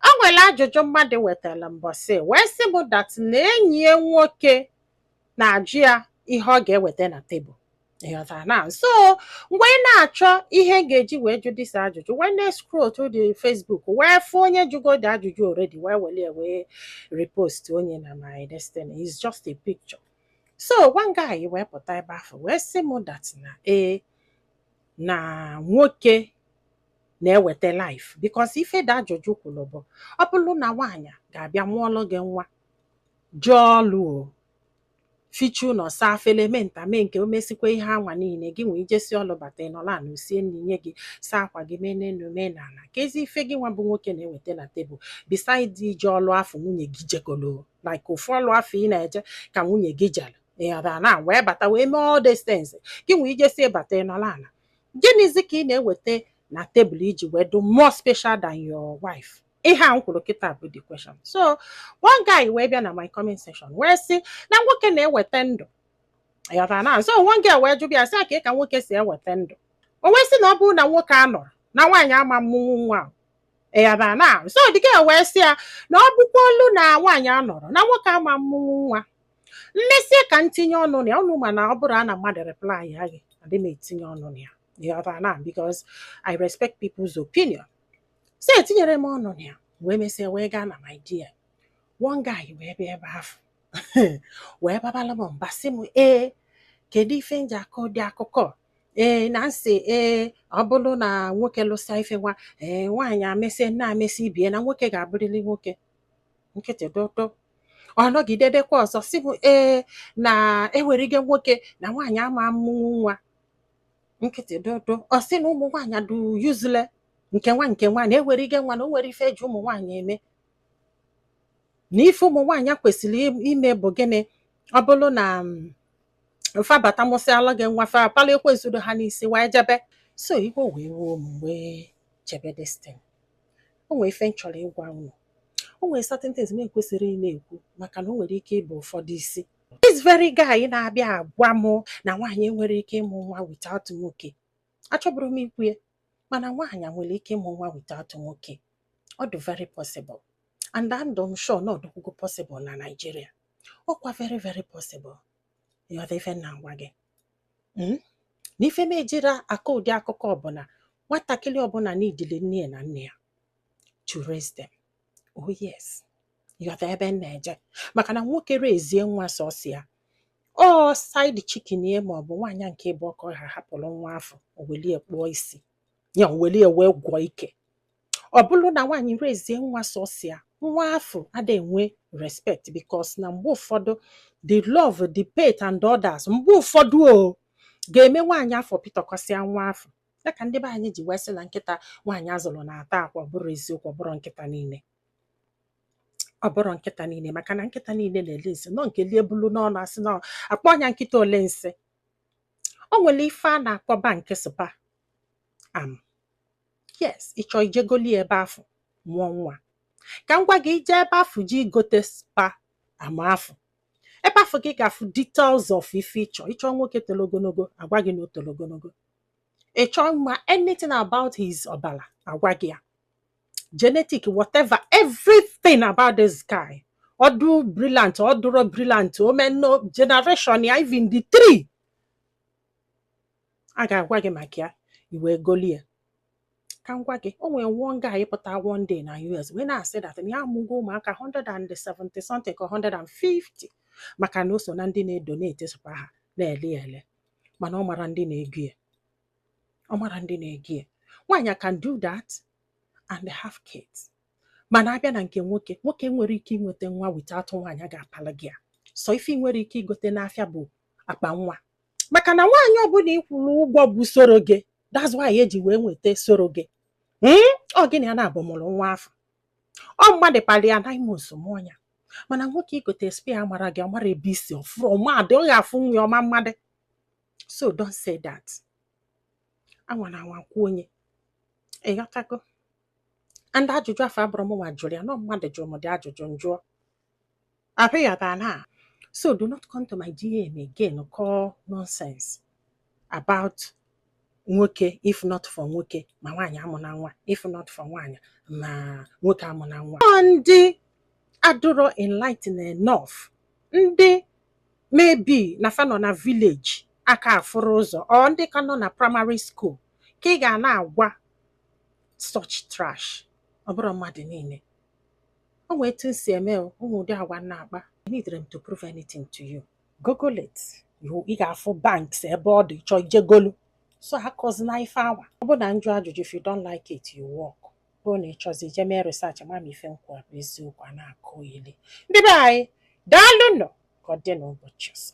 O nwere ajụjụ mmadụ wetara mbọsị wee sị m that na enyi ya nwoke na-ajụ ya ihe ọ ga-eweta na tebụl ịghọtara na so m wee na-achọ ihe m ga-eji wee jụ this ajụjụ wee na-escroll through the Facebook wee fụ onye jụgo the ajụjụ already wee were ya wee repost onye na my destin is just a picture so one guy wee pụta ebe ahụ wee sị m that na ee na nwoke na-eweta life because ife the ajụjụ kwuru bụ ọ bụrụ na nwaanyị ga-abịa mụọlụ gị nwa jee ọlụ o fichaa ụnọ saa afele mee nta mee nke o mesikwa ihe anwa niile gị nwa ejesi ọlụ bata ị nọlụ ana o sie nri nye gị saa akwa gị mee n'elu mee n'ala keezi ife gị nwa bụ nwoke na-eweta na tebụl besides ije ọlụ afụ nwunye gị jekolo like ofu ọlụ afụ ị na-eje ka nwunye gị jere ịghọtara na wee bata wee mee all these things gị nwa ejesi bata ị nọlụ ala Gịnịzi ka ị na-eweta na tebụl iji wee dụ more special than your wife? ihe a m kwuru kịta bụ the question so one guy wee bịa na my comment section wee sị na nwoke na-eweta ndụ ịghọtara na so one girl wee jụba ya sị ya kee ka nwoke si eweta ndụ o wee sị na ọ bụrụ na nwoke anọrọ na nwaanyị ama amụnwu nwa ịghọtara na so the girl wee sị ya na ọ bụkwalụ na nwaanyị anọrọ na nwoke ama amụnwu nwa mmesịa ka m tinye ọnụ na ya unu ma na ọ bụrụ na mmadụ reply ya gị adị m etinye ọnụ na ya ịghọta na because I respect people's opinion so etinyere m ọnụ na ya wee mesịa wee gaa na my DM one guy wee bịa ebe ahụ wee babala m mba sị m ee kedu ife m ji akọ ụdị akụkọ ee na m sị ee ọ bụrụ na nwoke lụsa ife nwa ee nwaanyị emesị nna emesị ibe ya na nwoke ga-abụrịrị nwoke nkịtị dụdụ ọ nọgide dekwa ọzọ sị m ee na eweruga nwoke na nwaanyị ama amụnwu nwa nkịtị dụdụ ọ sị na ụmụ nwaanyị dụ useless nke nwa nke nwa na eweruga nwa na o nwere ife eji ụmụ nwaanyị eme na ife ụmụ nwaanyị kwesịrị im- ime bụ gịnị ọ bụrụ na mm, fa bata mụsịalụ gị nwa fa pala ekwensu do ha n'isi wee jebe so iwe wee wee m wee chebe destin o nwere ife m chọrọ ịgwa unu o nwere certain things m ekwesịrị ịna-ekwu maka na o nwere ike ibu ụfọdụ isi this very guy na-abịa agwa m na nwaanyị enwere ike ịmụ nwa without nwoke achọbụrụ m ikwu ya mana nwaanyị nwere ike ịmụ nwa without nwoke ọ dụ very possible and and adụ m sure na ọ dụkwugo possible na Nigeria ọkwa very very possible ịghọta ife m na-agwa gị hmm? na ife m ejiri akọ ụdị akụkọ bụ na nwatakịrị ọbụla needịlị nne ya na nna ya to raise them oh yes ịghọta ebe m na-eje maka na nwoke raisie nwa sọsọ ya ọ side chicken ya ma ọ bụ nwaanyị nke ịbụọ ka ha hapụrụ nwa afụ o welu ya kpụọ isi ya o welu ya wee gwọọ ike ọ bụrụ na nwaanyị rezie nwa sọsọ ya nwa afụ ada enwe respect because na mgbe ụfọdụ the love the pet and others mgbe ụfọdụ o ga-eme nwaanyị afụ pịtọkọsịa nwa afụ ya ka ndị be anyị ji wee sị na nkịta nwaanyị zụrụ na-ata akwa ọ bụrọ eziokwu ọ bụrọ nkịta niile ọ bụrọ nkịta niile maka na nkịta niile na-eli nsị na ọ nke lie bulu n'ọnụ a sị na-akpọ nya nkịta oli nsị o nwere ife a na-akpọ bank sperm yes ị chọọ ije golu ya ebe afụ mụọ nwa ka m gwa gị i je ebe afụ je igote sperm afụ ebe afụ gị ga-afụ details of ife ị chọ ị chọ nwoke toro ogologo a gwa gị na o toro ogologo ị chọ ịma anything about his ọbara a gwa gị ya genetic whatever everything about this guy ọ dụ brilliant ọ dụrọ brilliant omeno generation ya even the three a ga-agwa gị maka ya i wee golu ya ka m gwa gị o nwere one guy pụta one day na US wee na-asị that na ya amụgo ụmụaka 170 something ka 150 maka na o so na ndị na-edonate sperm a na-ele ya ele mana ọ marọ ndị na-ego ya ọ marọ ndị na-ego ya nwaanyị can do that and have kids mana a bịa na nke nwoke nwoke enwerọ ike inweta nwa without nwaanyị ga-apalụ gị ya so ife i nwerọ ike igote n'afịa bụ akpa nwa maka na nwaanyị ọbụla ị kwụrụ ụgwọ bụ surrogate that's why e ji wee nweta surrogate hmm? ọ gịnị ya na-abụ mụrụ nwa afụ ọ mmadụ palụ ya n'ime bosom nya mana nwoke i gote sperm ọ marọ gị ọ marọ ebe i si ọ fụrọ mmadụ ọ ga-afụ nwa ya ọ ma mmadụ so don't say that anwana anwa kwuo nya ị ghọtago and ajụjụ afụ abụrọ mụ nwa jụrụ ya na ọ mmadụ jụrụ m ụdị ajụjụ m jụọ Abịakwana. So do not come to my DM again kọọ nonsense about nwoke if not for nwoke ma nwaanyị amụna nwa if not for nwaanyị ma nwoke amụna nwa. Ọ ndị adụrọ enlightened enough ndị maybe na fa nọ na village aka afụrọ ụzọ or ndị ka nọ na primary school ka ị ga na-agwa such trash ọ bụrọ mmadụ niile o nwee etu m si eme o ụmụ ụdị agwa m na-akpa eneedirọ m to prove anything to you google it You- ị ga-afụ banks ebe ọ dị ị chọọ ije golu so akọzina ife awa ọ bụ na m jụ ajụjụ if you don't like it you walk bụrụ na ị chọzi ije mee research ma ma ife m kwu ọ bụ eziokwu a na-akọyeli ndị be anyị daalụ nụ ka ọ dị n'ụbọchị ọzọ